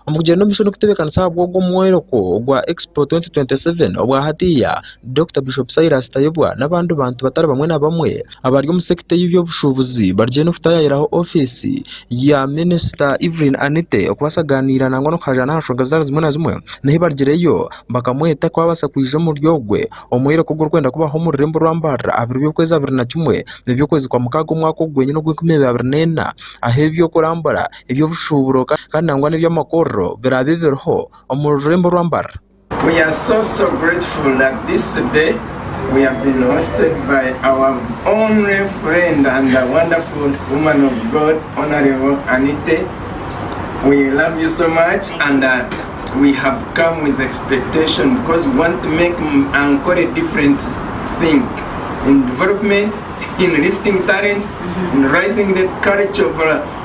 Omu kugyenda omu maisho n'okutebeekanisa ahabw'ogwo mwoyoroko ogwa Expo 2027 obwa hatiiya, Dokita Bishop Silas Tayebwa n'abandi bantu batari bamwe na bamwe abari omu sekita y'eby'obushuubuzi bariyo nibatayaayiraho ofiisi ya Minisita Evelyn Anite okubaasa kugaaniira nangwa n'okuhayaayira aha nshonga zitari zimwe na zimwe. N'ahi baarugireyo bakamweta kuba yaabaasa kwija omuri ogwe omwoyoroko ogurikwenda kubaho omu rurembo rwa Mbarara aha biro by'okwezi abiri na kimwe eby'okwezi kwa mukaaga omwaka ogu gwenyine ogw'enkumi ibiri abiri na ena aheeby'okurambura eby'obushuuburo kandi nangwa n'eby'amakorro biraabe biriho omu rurembo rwa Mbarara.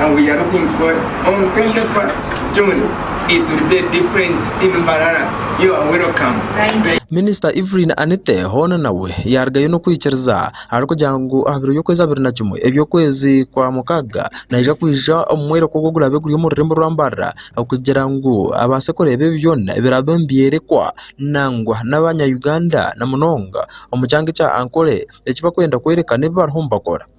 and we are looking for on 21st June it will be different in Mbarara you are welcome. Minisita Evelyn Anite hoona nawe yaarugayo n'okwikiriza arikugira ngu aha biro by'okwezi abiri na kimwe eby'okwezi kwa mukaaga naija kwija omu mworeko ogu oguraabe guri omu rurembo rwa Mbarara kugira ngu abaase kureeba ebi byona ebiraabe nibyorekwa nangwa n'abanya Uganda na munonga omu kyanga ekya Ankole eki barikwenda kworeka n'ebi bariho nibakora.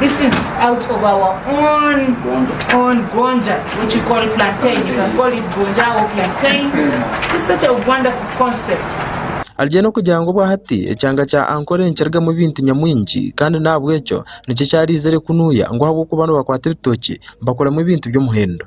This is out of our own own gonja, which we call it plantain. You can call it gonja or plantain. It's such a wonderful concept. Arye n'okugira ngu obwahati ekyanga kya Ankole nikirugamu ebintu nyamwingi kandi n'ahabw'ekyo nikyo kyaraizire kunuya ngu ahabw'okuba nibakwata ebitookye bakoramu ebintu by'omuhendo.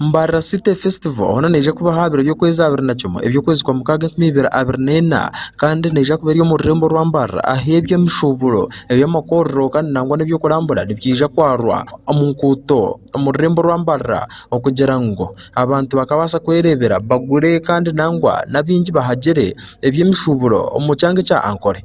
Mbarara City Festival hoona neija kuba aha biro by'okwezi abiri na kimwe eby'okwezi kwa mukaaga enkumi ibiri abiri na ena kandi neija kuba eri omu rurembo rwa Mbarara ahu eby'emishuuburo, eby'amakorero kandi nangwa n'eby'okurambura nibyija kwarwa omu nguuto omu rurembo rwa Mbarara okugira ngu abantu bakabaasa kwereebera bagure kandi nangwa n'abaingi bahagyere eby'emishuuburo omu kyanga ekya Ankole.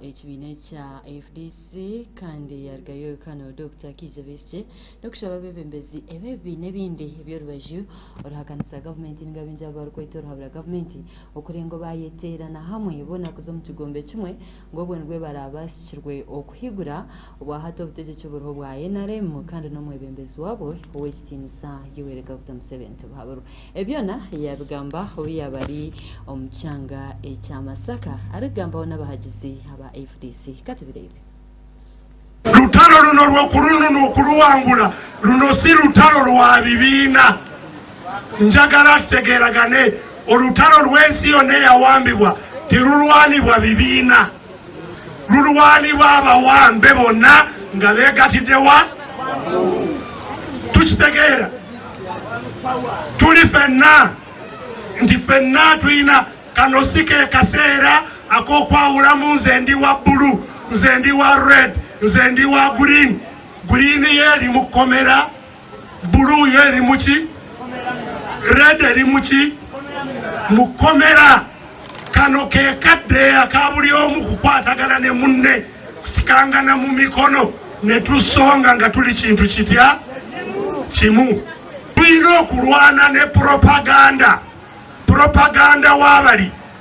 Ekibiina ekya fdc kandi yarugayo Rukano Dokita Kiiza Besigye n'okushaba abeebembezi eb'ebibiina ebindi eby'orubaju oruhakanisa gavumenti niga baingi abo barikweta oruhabura gavumenti okureeba ngu baayeteerana hamwe boona kuza omu kigombe kimwe ngu obwo nibwo baraabasikirwe okuhigura Obwahati obutegyeki buriho bwa nrm kandi n'omwebembezi wabwo ow'ekitiinisa Yoweri Kaguta Museveni tibuhabirwe. Ebi byona yaabigamba obu yaaba ari omu kyanga ekya Masaka arikugambaho n'abahagizi aba fdc. Ka tubireebe. Rutaro runo rw'okurununa okuruwangura, runo si rutaro rwa bibiina. Njagara tutegeeragane, orutaro rw'ensi yoona eyawambibwa tirurwanibwa bibiina. Mulwani b'abawambe bona nga begatide wa? Tukitegeera turi fena nti fena twina kano si ke kaseera ak'okwahuramu nze ndi wa buru, nze ndi wa red, nze ndi wa green. Green yo erimu kukomera Blue yo erimu ki? Red erimu ki? Mukomera. Kano ke kadeeya ka buri omu kukwatagana ne munne, kusikangana mu mikono nitushonga nga turi kintu kitya? Kimu. Twine okurwana ne propaganda. Propaganda wabari.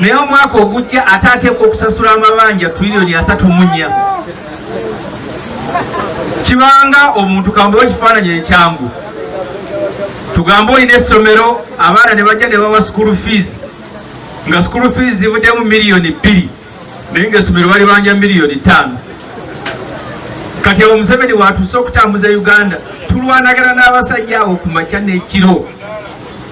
Naye omwaka ogujja ataateekwa okusasura amabanja turironi asatu munya. Kibanga omuntu kambuhe ekifaananyi ekyangu. Tugambe oine esomero abaana nibagya nibawa sikuuru fiizi, nga sikuuru fiizi zibudemu miriyoni bbiri naye nga esomero baribanja miriyoni itaano. Kati aho Museveni waatuusa okutambuza Uganda, turwanagana n'abasajja aho kumakya n'ekiro.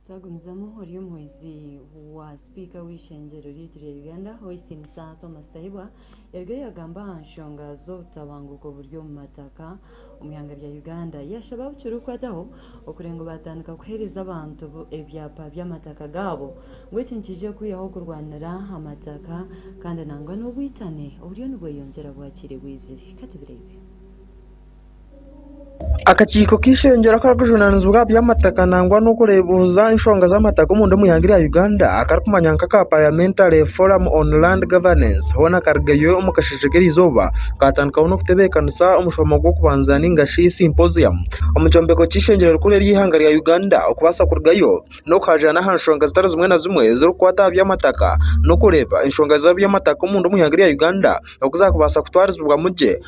Twagumizamu Ory'omuhwezi wa sipiika w'eishengyero ryaitu rya Uganda, Hoistin Sir Thomas Tahibwa, yarigayo yagamba aha nshonga z'obutabanguko oburi omu mataka omu ihanga rya Uganda. Yashaba abukirikukwataho okureeba ngu baatandika kuheereza abantu ebyapa by'amataka gaabo ngu eki nikiija kwihaho kurwanira amataka kandi nangwa n'obwitane oburiyo nibweyongyera bwakiriibwizire. Katubireebe. Akakiiko k'eishengyero akarikujunaanizibwa aha by'amataka nangwa n'okureebuza enshonga z'amataka omunda omu ihanga erya Uganda akarikumanywa nka aka Parliamentary Forum on Land Governance hoona karigeyo omu kasheeshe k'erizooba kaatandikaho n'okutebeekanisa omushomo gw'okubanza nainga shi symposium omu kyombeko ky'eishengyero rikuru ery'eihanga rya Uganda okubaasa kurugayo n'okuhaagira n'aha nshonga zitari zimwe na zimwe ezirikukwata aha by'amataka n'okureeba enshonga z'eby'amataka omunda omu ihanga erya Uganda oku zaakubaasa kutwarizibwamu gye.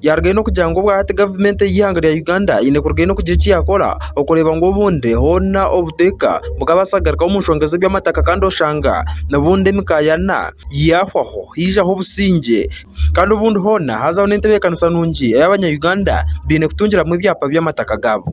Yaarugayo n'okugira ngu obwahati gavumenti ey'eihanga rya Uganda eine kurugayo n'okugira eki yaakora okureeba ngu obundi hoona obuteeka bukaabaasa kugarukaho omu nshonga z'eby'amataka kandi oshanga obundi emikaayana yaahwaho haijaho obusingye kandi obundi hoona haazaho n'entebeekanisa nungi ei Abanya-Uganda baine kutungiramu ebyapa by'amataka gaabo.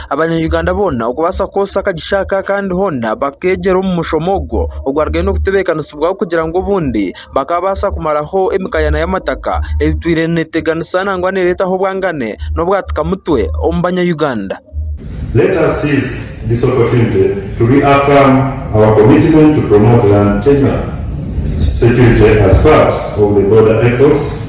Abanya-Uganda boona okubaasa kwotsya akagisha aka kandi hoona bakeegyera omu mushomo ogwo ogwarugaireho n'okutebeekanisibwaho kugira ngu obundi bakabaasa kumaraho emikaayana y'amataka etwire neeteganisa nangwa neereetaho obwangane n'obwatika mutwe omu Banya-Uganda. Let us seize this opportunity to reaffirm our commitment to promote land tenure security as part of the border efforts.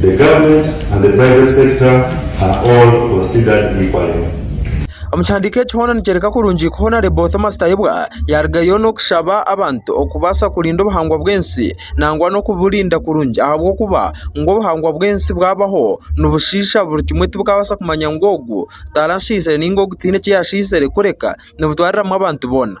The government and the private sector are all considered equally. Omu kihandiiko eki hoona nikyoreka kurungi ku Honarebo Thomas Tayebwa yaarugayo n'okushaba abantu okubaasa kurinda obuhangwa bw'ensi nangwa n'okuburinda kurungi ahabw'okuba ngu obuhangwa bw'ensi bwabaho nibushiisha buri kimwe tibukabaasa kumanya ngu ogu taarashiisire nainga ogu taine eki yaashiisire kureka nibutwariramu abantu boona.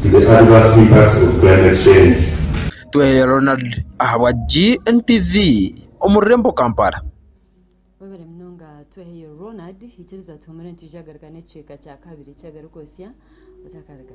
to the adverse impacts of climate change. Tweheyo Ronald ahabwa GNTV omu rurembo Kampala. Webare munonga Tweheyo Ronald, ikiriza tuhumure nitwija kugaruka n'ekicweka kya kabiri kya Garuka Osya Otakariga.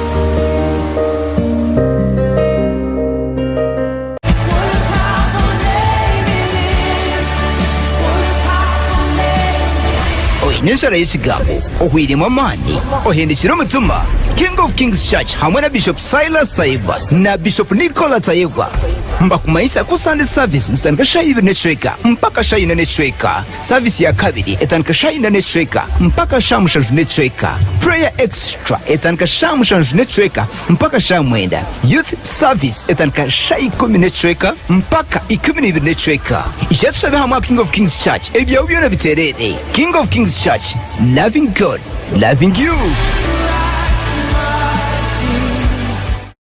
oine enshara y'ekigambo ohwiremu amaani ohendekire omutima king of kings church hamwe na bishop silas tayebwa na bishop nicola tayebwa mbakumanyisa ku sande service nizitandika shaha ibiri n'ecweka mpaka shaha ina n'ecweka Service ya kabiri etandika shaaha ina n'ecweka mpaka shaaha mushanju n'ecweka. Prayer Extra etandika shaaha mushanju n'ecweka mpaka shaaha mwenda. Youth Service etandika shaaha ikumi n'ecweka mpaka ikumi na ibiri n'ecweka. Ija tushabe hamwe aha King of Kings Church ebyawe byona bitereere. King of Kings Church, loving God, loving you.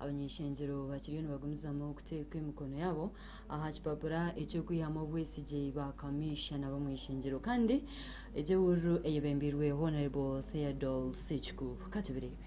Abany'eshengyero bakiriyo nibagumizamu kuteeka emikono yaabo aha kipapura eky'okwihamu obwesigye ba kamiishana b'omu ishengyero kandi egyo ewururu eyebembeirwe Honourable Theodol Sekikuubo. Ka tubireebe.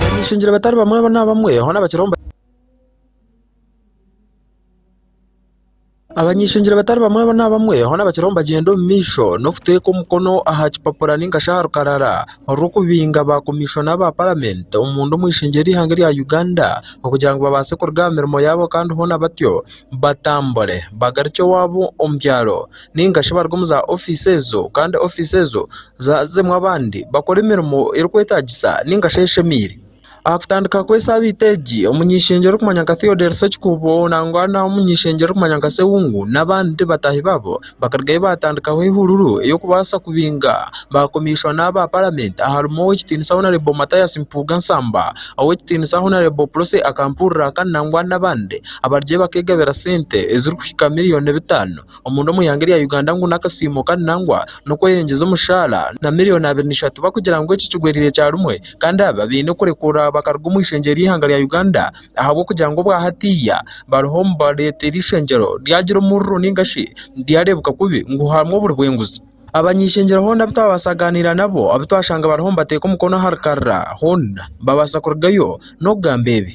Barinyeshongera batari bamwe na bamwe, hoona bakiraho nibagamba. Abanyeshongera batari bamwe na bamwe, hoona bakiraho nibagyenda omu maisho n'okuteeka omukono aha kipapura nainga shi aha rukarara orw'okubinga ba komishona aba paramenti omunda omu ishengye ry'eihanga erya Uganda okugira ngu babaase kuruga aha mirimo yaabo kandi hoona batyo batambure bagarukye ewaabo omu byaro. ninga shi bari omu za ofiisi ezo kandi ofiisi ezo zirimu abandi bakora emirimo erikwetaagisa ninga shi eshemeire. Aha kutandika kw'esaabiiti egi, omunyeshengyero orikumanywa nka Theodore Sekikuubo nangwa n'omunyeshengyero orikumanywa nka Sewungu n'abandi bataahi baabo bakarugayo baatandikaho eihururu ey'okubaasa kubinga baakomeisa n'aba paramenti aharimu ow'ekitiinisa honarebo Mathias Mpuuga Nsamba, ow'ekitiinisa honarebo Prossy Akampuuriraka nangwa n'abandi abarugire bakeegabira sente ezirikuhika miriyoni bitaano. omunda omu ihanga erya Uganda ngu n'akasiimo kandi nangwa n'okweyengyeza omushaara na million abiri n'ishatu bakugira ngu eki kigwereire kyarumwe kandi aba baine kurekurwa bakaruga omu ishengyero ry'ihanga rya Uganda ahabw'okugira ngu obwa hatiiya bariho nibareeta eri ishengyero ryagira omururu ninga shi ryareebeka kubi ngu harimu oburi bw'enguzi. Abany'ishengyero hoona abu twabaasa kugaaniira nabo abu twashanga bariho nibateeka omukono aha rukarara hoona babaasa kurugayo n'okugamba ebi.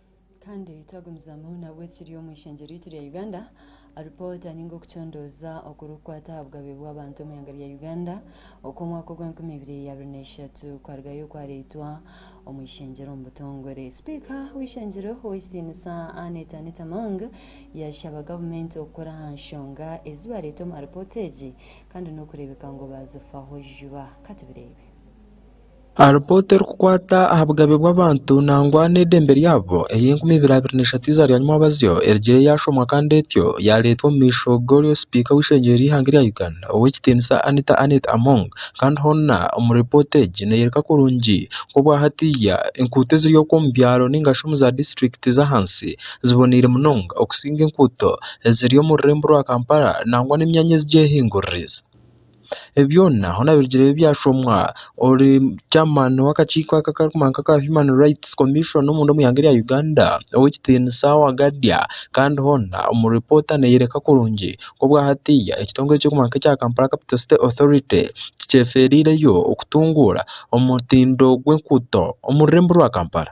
Kandi twagumizamu nabwo ekiri omu ishengyero ryaitu rya Uganda, alipoota ninga okucondooza okurikukwata aha bugabe bw'abantu omu ihanga rya Uganda okw'omwaka ogw'enkumi ibiri abiri na ishatu kwarugayo kwareetwa omu ishengyero omu butongore. Sipiika w'eishengyero Ow'ekitinisa Annet Annet Among yashaba gavumenti okukora aha nshonga ezi bareeta omu alipoota egi kandi n'okureebeka ngu baazifaho juba. Katubireebe. Aha ripoota erikukwata aha bugabe bw'abantu nangwa n'eidembe ryabo ey'enkumi ibiri abiri na ishatu eiza rya Nyumabazyo erigire yaashomwa kandi etyo yaareetwa omu maisho g'oryo sipiika w'eishengyero ry'eihanga erya Uganda ow'ekitiinisa Anita Annet Among kandi hoona omuri ripoota egi neyoreka kurungi ngu obwa hatiiya enkuuto eziri okwo omu byaro ninga shi omu za disiturikiti z'ahansi ziboneire munonga okusinga enkuuto eziri omu rurembo rwa Kampala nangwa n'emyanya ezi gyehinguririize. Byona ahu naabirugireyo byashomwa. Ori chairman w'akakiiko aka akarikumanywa nka aka Human Rights Commission omunda omu ihanga erya Uganda, Ow'ekitiinisa Wagadia. Kandi hoona omu ripoota neeyoreka kurungi ku obwahatiiya ekitongore ekirikumanywa nka ekya Kampala Capital City Authority tikyefeereireyo kutunguura omutindo gw'enguuto omu rurembo rwa Kampala.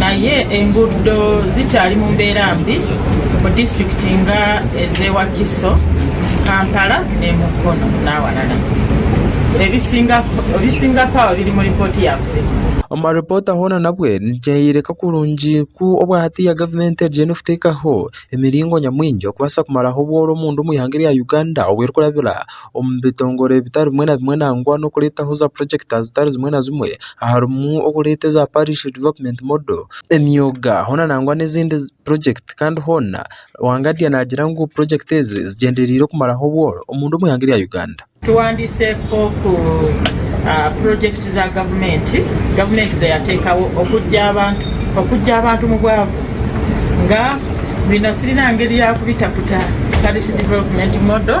Naye enguudo zikyari mu mbeera mbi mu disitulikiti nga ez'e Wakiso, Kampala n'e Mukono n'awalala. Ebisingako aho biri mu ripooti yaffe. Omu ripoota hoona nabwe nikyoreka kurungi ku obwa hatiiya gavumenti eriyo nikuteekaho emiringo nyamwingi okubaasa kumaraho obworo omu nda omu ihanga erya Uganda obu erikurabira. omu bitongore bitari bimwe na bimwe nangwa n'okureetaho za projects zitari zimwe na zimwe aharimu okureeta eza parish development model, emyoga hoona nangwa n'ezindi projects kandi hoona Wangadya naagira ngu projects ezi zigyenderiire kumaraho obworo omundu omu ihanga erya Uganda. Tuwandiise nk'oku projects za gavumenti gavumenti zeyateekaho okuggya abantu omu bwavu nga Binasiri nangeri yakubita kuta parish development model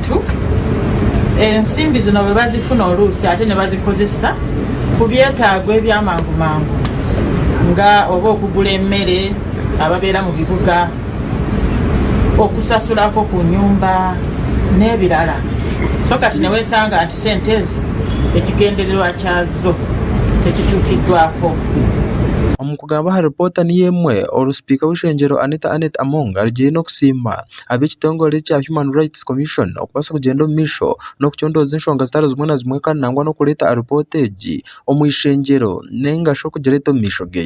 Baitu ensimbi zino bwe bazifuna oluusi ate ne bazikozesa ku byetaago eby'amangu mangu nga oba okugura emere ababeera mu bibuga, okusasura akoku nyumba n'ebirara. So kati ne wesanga nti sente ezo ekigendererwa kyazo tekituukidwako. Omu kugamba aha ripoota niyo emwe oru sipiika w'eishengyero Anita Annet Among arugire n'okusiima ab'ekitongore ekya Human Rights Commission okubaasa kugyenda omu maisho n'okucondooza enshonga zitari zimwe na zimwe kandi nangwa n'okureeta aripoota egi omu ishengyero nainga shi okugireeta omu maisho ge.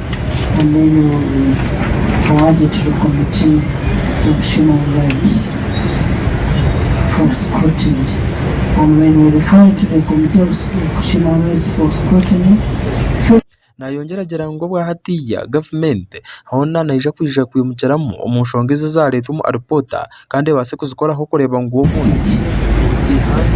Naayongyera agira ngu obwa hatiiya gavumenti hoona neija kwija kwimukiramu omu nshonga ezi ezaareetwa omu alipoota. kandi ebaase kuzikoraho kureeba ngu obumwe buri ihanga.